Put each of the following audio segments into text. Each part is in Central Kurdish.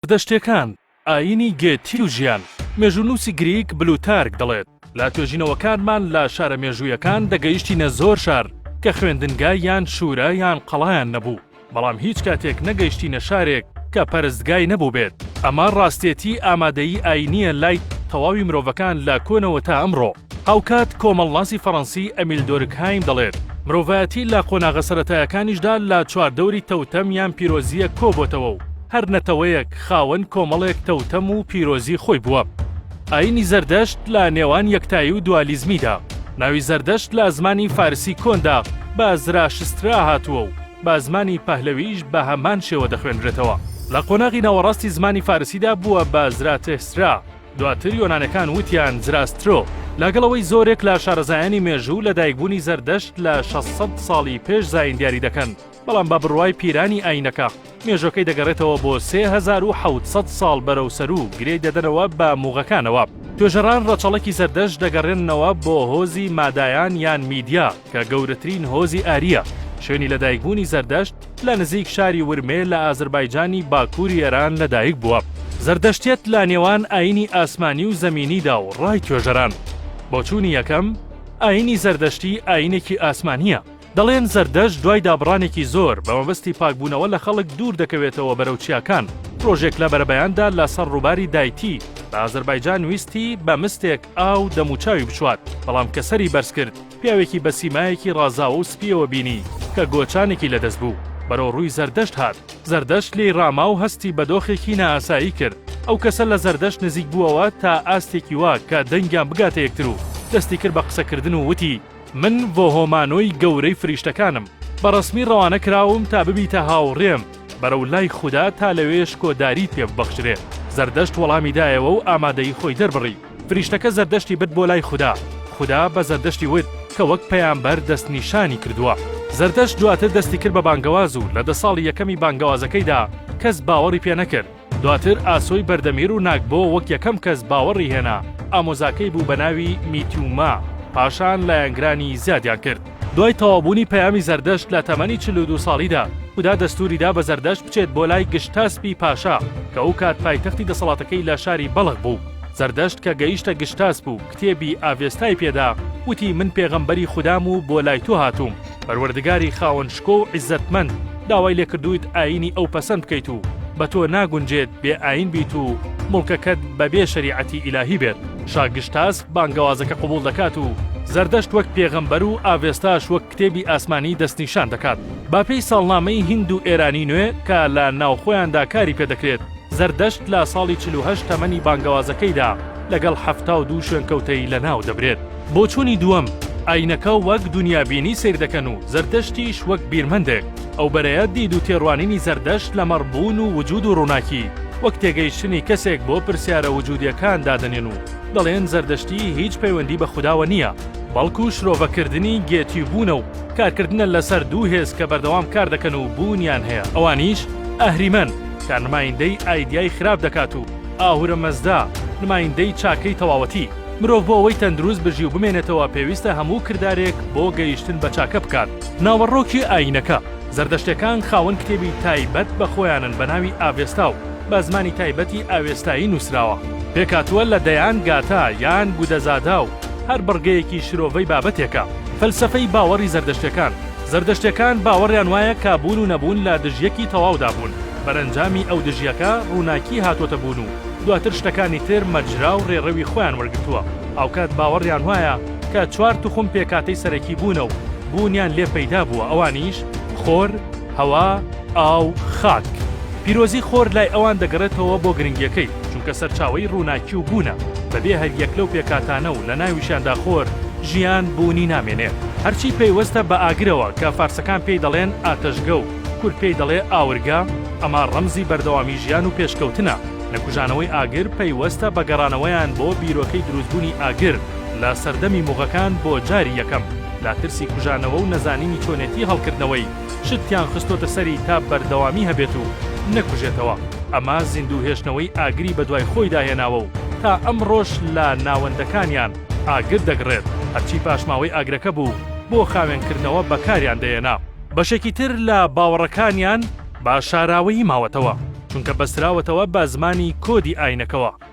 سەردەشتێکان، ئایینی گێتی و ژیان، مێژوونووسی گریک بلوتارک دەڵێت، لە توێژینەوەکانمان لە شارە مێژوویەکان دەگەیشتینە زۆر شار کە خوێندنگا یان شوورا یان قەڵایان نەبوو، بەڵام هیچ کاتێک نەگەیشتینە شارێک کە پەرستگای نەبووبێت. ئەمە ڕاستێتی ئامادەیی ئایینییە لای تەواوی مرۆڤەکان لە کۆنەوە تا ئەمڕۆ. هاوکات کۆمەڵناسی فەرەنسی ئەمیل دۆرکهایم دەڵێت، مرۆڤایەتی لە قۆناغە سەرەتایەکانیشدا لە چواردەوری تەوتەم یان پیرۆزییەک کۆبۆتەوە و هەر نەتەوەیەک خاوەن کۆمەڵێک تەوتەم و پیرۆزی خۆی بووە. ئایینی زەردەشت لە نێوان یەکتایی و دوالیزمیدا، ناوی زەردەشت لە زمانی فارسی کۆندا بە زراشسترا هاتووە و بە زمانی پەهلەوییش بە هەمان شێوە دەخوێنرێتەوە. لە قۆناغی ناوەڕاستی زمانی فارسیدا بووە بە زراتهسرا. دواتر یۆنانەکان وتیان زراسترۆ، لەگەڵ ئەوەی زۆرێک لە شارەزایانی مێژوو لە دایکبوونی زەردەشت لە شەش سەد ساڵی پێش زایین دیاری دەکەن، بەڵام بە بڕوای پیرانی ئایینەکە مێژووەکەی دەگەڕێتەوە بۆ سێ هەزار و حەوت سەد ساڵ بەرەو سەرو گرێی دەدەنەوە بە موغەکانەوە. توێژەران ڕەچەڵەکی زەردەشت دەگەڕێننەوە بۆ هۆزی مادایان یان میدیا، کە گەورەترین هۆزی ئارییە، شوێنی لەدایکبوونی زەردەشت لە نزیک شاری ورمێ لە ئازربایجانی باکووری ئێران لەدایک بووە. زەردەشتیەت لە نێوان ئایینی ئاسمانی و زەمینیدا و ڕای توێژەران. بۆچوونی یەکەم، ئایینی زەردەشتی ئایینێکی ئاسمانییە. دەڵێن زەردەشت دوای دابڕانێکی زۆر، بە مەبەستی پاکبوونەوە لە خەڵک دوور دەکەوێتەوە بەرەو چیاکان. ڕۆژێک لە بەرەبەیاندا لە سەر ڕووباری دایتی لە ئازربایجان ویستی بە مستێک ئاو دەموچاوی بچوات، بەڵام کە سەری بەرز کرد، پیاوێکی بە سیمایەکی ڕازاوە و سپییەوە بینی کە گۆچانێکی لە دەست بوو، بەرەو ڕووی زەردەشت هات، زەردەشت لێی ڕاما و هەستی بە دۆخێکی نائاسایی کرد، ئەو کەسە لە زەردەشت نزیک بووەوە تا ئاستێکی وا کە دەنگیان بگاتە یەکتر و دەستی کرد بە قسە کردن و وتی، من ڤۆهۆمانۆی گەورەی فریشتەکانم، بە ڕەسمی ڕەوانە کراوم تا ببیتە هاوڕێم بەرەو لای خودا تا لەوێ شکۆداریت پێ ببەخشرێ، زەردەشت وەڵامی دایەوە و ئامادەیی خۆی دەربڕی. فریشتەکە زەردەشتی برد بۆ لای خودا، خودا بە زەردەشتی وت کە وەک پەیامبەر دەستنیشانی کردووە. زەردەشت دواتر دەستی کرد بە بانگەواز و لە دە ساڵی یەکەمی بانگەوازەکەیدا کەس باوەڕی پێ نەکرد. دواتر ئاسۆی بەردەمیر و ناگبۆ وەک یەکەم کەس باوەڕی هێنا، ئامۆزاکەی بوو بە ناوی میتیوما، پاشان لایەنگرانی زیادیان کرد. دوای تەواوبوونی پەیامی زەردەشت لە تەمەنی چل و دوو ساڵیدا، خودا دەستووری دا بە زەردەشت بچێت بۆ لای گشتاسپی پاشا، کە ئەو کات پایتەختی دەسەڵاتەکەی لە شاری بەڵخ بوو. زەردەشت کە گەیشتە گشتاسپ و کتێبی ئاڤێستای پێ دا، وتی، من پێغەمبەری خودام و بۆ لای تۆ هاتووم. پەروەردگاری خاوەن شکۆ و عیززەتمەند داوای لێ کردوویت ئایینی ئەو پەسەند بکەیت و بە تۆ ناگونجێت بێ ئایین بیت و موڵکەکەت بە بێ شەریعەتی ئیلاهی بێت. شا گشتاسپ بانگەوازەکە قبوڵ دەکات و زەردەشت وەک پێغەمبەر و ئاڤێستاش وەک کتێبی ئاسمانی دەستنیشان دەکات. بە پێی ساڵنامەی هیند و ئێرانی نوێ کە لە ناوخۆیاندا کاری پێ دەکرێت، زەردەشت لە ساڵی چل و هەشت تەمەنی بانگەوازەکەیدا لەگەڵ حەفتا و دوو شوێنکەوتەی لە ناو دەبرێت. بۆچوونی دووەم، ئایینەکە وەک دونیابینی سەیر دەکەن و زەردەشتیش وەک بیرمەندێک. ئەو بەرەیە دید و تێڕوانینی زەردەشت لەمەڕ بوون و وجوود و ڕووناکی، وەک تێگەیشتنی کەسێک بۆ پرسیارە وجوودییەکان دادەنێن و، دەڵێن زەردەشتی هیچ پەیوەندی بە خوداوە نییە، بەڵکو شرۆڤەکردنی گێتی بوونە و کارکردنە لەسەر دوو هێز کە بەردەوام کاردەکەن و بوونیان هەیە ئەوانیش، ئەهریمەن، کە نمایندەی ئایدیای خراپ دەکات و ئاهورە مەزدا، نمایندەی چاکەی تەواوەتی. مرۆڤ بۆ ئەوەی تەندروست بژی و بمێنێتەوە پێویستە هەموو کردارێک بۆ گەیشتن بە چاکە بکات. ناوەڕۆکی ئایینەکە، زەردەشتەکان خاوەن کتێبی تایبەت بە خۆیانن بە ناوی ئاڤێستا و، بە زمانی تایبەتی ئاوێستایی نووسراوە، پێکهاتووە لە دەیان گاتا یان گوودەزادا و هەر بڕگەیەکی شرۆڤەی بابەتێکە. فەلسەفەی باوەڕی زەردەشتەکان، زەردەشتەکان باوەڕیان وایە کە بوون و نەبوون لە دژیەکی تەواودا بوون، بەرەنجامی ئەو دژیەکە ڕووناکی هاتۆتە بوون و دواتر شتەکانی تر مەجرا و ڕێڕەوی خۆیان وەرگرتووە، هاوکات باوەڕیان وایە کە چوار توخم پێکهاتەی سەرەکی بوونە و بوونیان لێ پەیدا بووە ئەوانیش، خۆر، هەوا، ئاو، خاک. پیرۆزی خۆر لای ئەوان دەگەڕێتەوە بۆ گرنگیەکەی، چونکە سەرچاوەی ڕووناکی و بوونە، بەبێ هەریەک لەو پێکهاتانە و لەناویشیاندا خۆر، ژیان بوونی نامێنێ. هەرچی پەیوەستە بە ئاگرەوە کە فارسەکان پێی دەڵێن ئاتەشگە و کورد پێی دەڵێ ئاورگە، ئەمە ڕەمزی بەردەوامی ژیان و پێشکەوتنە، نەکوژانەوەی ئاگر پەیوەستە بە گەڕانەوەیان بۆ بیرۆکەی دروستبوونی ئاگر لە سەردەمی موغەکان بۆ جاری یەکەم، لە ترسی کوژانەوە و نەزانینی چۆنێتی هەڵکردنەوەی، شتکیان خستۆتە سەری تا بەردەوامی هەبێت و نەکوژێتەوە، ئەمە زیندوو هێشتنەوەی ئاگری بەدوای خۆیدا هێناوە و تا ئەمڕۆش لە ناوەندەکانیان ئاگر دەگڕێت، هەرچی پاشماوەی ئاگرەکە بوو بۆ خاوێنکردنەوە بەکاریان دەهێنا. بەشێکی تر لە باوەڕەکانیان بە شاراوەیی ماوەتەوە، چونکە بەستراوەتەوە بە زمانی کۆدی ئاینەکەوە.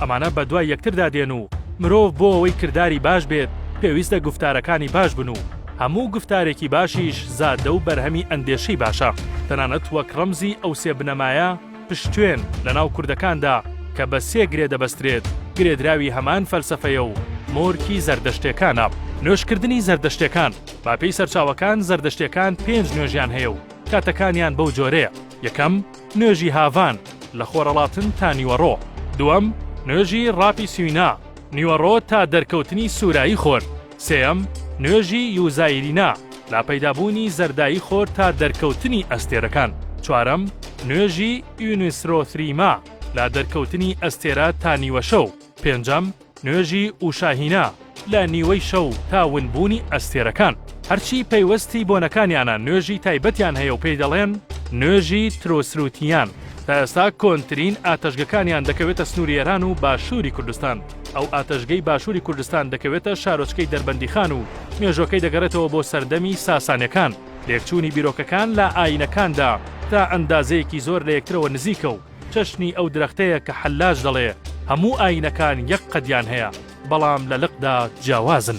ئەمانە بە دوای یەکتردا دێن و مرۆڤ بۆ ئەوەی کرداری باش بێت پێویستە گوفتارەکانی باش بن و هەموو گوفتارێکی باشیش زادە و بەرهەمی ئەندێشەی باشە تەنانەت وەک ڕەمزی ئەو سێ بنەمایە پشتێن لە ناو کوردەکاندا کە بە سێ گرێ دەبەسترێت گرێدراوی هەمان فەلسەفەیە و مۆرکی زەردەشتێکانە. نوێژکردنی زەردەشتێکان، بە پێی سەرچاوەکان زەردەشتێکان پێنج نوێژیان هەیە و کاتەکانیان بەو جۆرەیە، یەکەم، نوێژی هاڤان، لە خۆرەڵاتن تا نیوەڕۆ. دووەم، نوێژی ڕاپی سوینا، نیوەڕۆ تا دەرکەوتنی سورایی خۆر. سێیەم، نوێژی یوزایرینا، لە پەیدابوونی زەردایی خۆر تا دەرکەوتنی ئەستێرەکان. چوارەم، نوێژی ئیونیسرۆثریما، لە دەرکەوتنی ئەستێرە تا نیوەشەو. پێنجەم. نوێژی ئوشا هینا لە نیوەی شەو تا ونبوونی ئەستێرەکان. هەرچی پەیوەستی بۆنەکانیانە نوێژی تایبەتیان هەیە و پێی دەڵێن نوێژی ترۆسروتیان. تا ئێستا کۆنترین ئاتەشگەکانیان دەکەوێتە سنووری ئێران و باشووری کوردستان. ئەو ئاتەشگەی باشووری کوردستان دەکەوێتە شارۆچکەی دەربەندیخان و مێژووەکەی دەگەڕێتەوە بۆ سەردەمی ساسانیەکان. لێکچوونی بیرۆکەکان لە ئایینەکاندا تا ئەندازەیەکی زۆر لە یەکترەوە نزیکە و چەشنی ئەو درەختەیە کە حەلاج دەڵێ هەموو ئایینەکان یەک قەدیان هەیە، بەڵام لە لقدا جیاوازن.